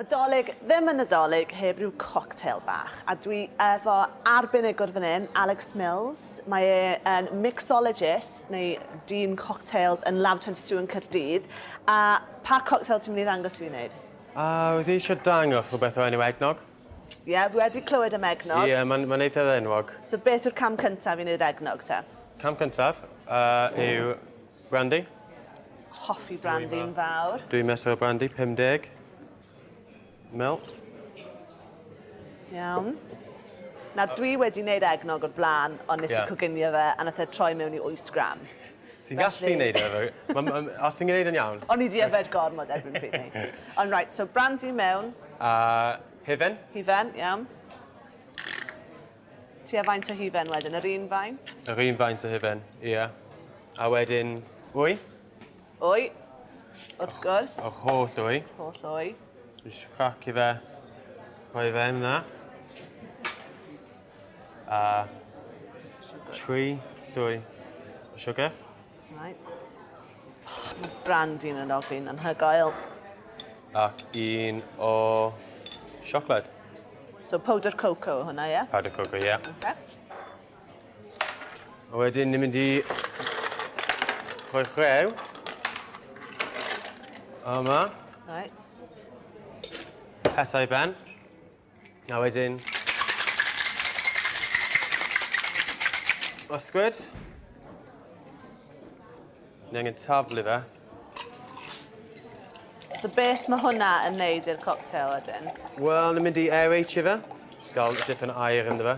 Nadolig ddim yn Nadolig heb ryw cocktail bach, a dwi efo arbenigwr fan hyn, Alex Mills. Mae e yn mixologist, neu dyn cocktails yn Lab 22 yn Caerdydd. A pa cocktail ti'n mynd i ddangos i fi wneud? A, wyt ti eisiau dangos rhywbeth o enw eggnog? Ie, fi wedi clywed am eggnog. Ie, mae'n mae'n eithaf enwog. So beth yw'r cam cyntaf i wneud eggnog te? Cam cyntaf yy yw Brandy. Hoffi brandy yn fawr. Dwy mesur o brandy, 50 ml. Iawn. Na, dwi wedi wneud egnog o'r blaen, ond nes i coginio fe, a nath e troi mewn i 8 gram. Ti'n gallu wneud e, os ti'n gwneud yn iawn. O'n i di yfed gormod erbyn pryd ni. Ond reit, so brandy mewn. A hufen. Hufen, iawn. Tua faint o hufen wedyn? Yr un faint? Yr un faint o hufen, ie. A wedyn, wy? Wy, wrth gwrs. Yr holl wy. Holl wy. Jyst crac i fe. Rhoi fe yna. A tri llwy o siwgr. Reit. Oh, mae brand un yn ofyn yn hygoel. Ac un o siocled. So powder cocoa hwnna, ie? Yeah? Powder cocoa, ie. Yeah. Okay. A wedyn ni'n mynd i rhoi chrew. Yma. Right. Pethau ben. A wedyn... Ysgwyd. Ni angen taflu fe. So beth mae hwnna yn neud i'r cocktail wedyn? Wel, ni'n mynd i aerate fe. Just gael dipyn o air ynddo fe.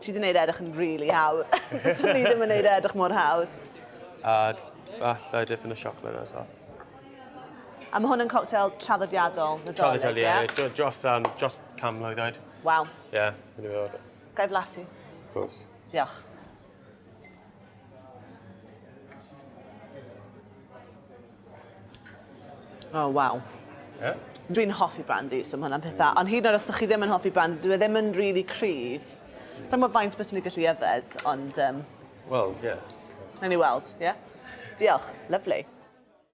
Ti di neud e edrych yn rili hawdd. Fyswn ni ddim yn neud e edrych mor hawdd. A falle dipyn o siocled ar y top. A ma' hwn yn cocktail traddodiadol Nadolig, ie? Traddodiadol, ie. Dro- Dros yym dros can mlwydd oed. Waw. Ie, fi'n meddwl bod e. Ga i flasu? Of course. Diolch. O, oh, waw. Ie? Dwi'n hoffi brandy, so mae hwnna'n pethau. Ond hyd yn oed os ydych chi ddim yn hoffi brandy, dwi e ddim yn rili cryf. Sa'n gwybod faint beth sy'n ei gallu yfed, ond... Um, Wel, ie. Yeah. Nawn ni weld, ie? Yeah? Diolch. Lovely.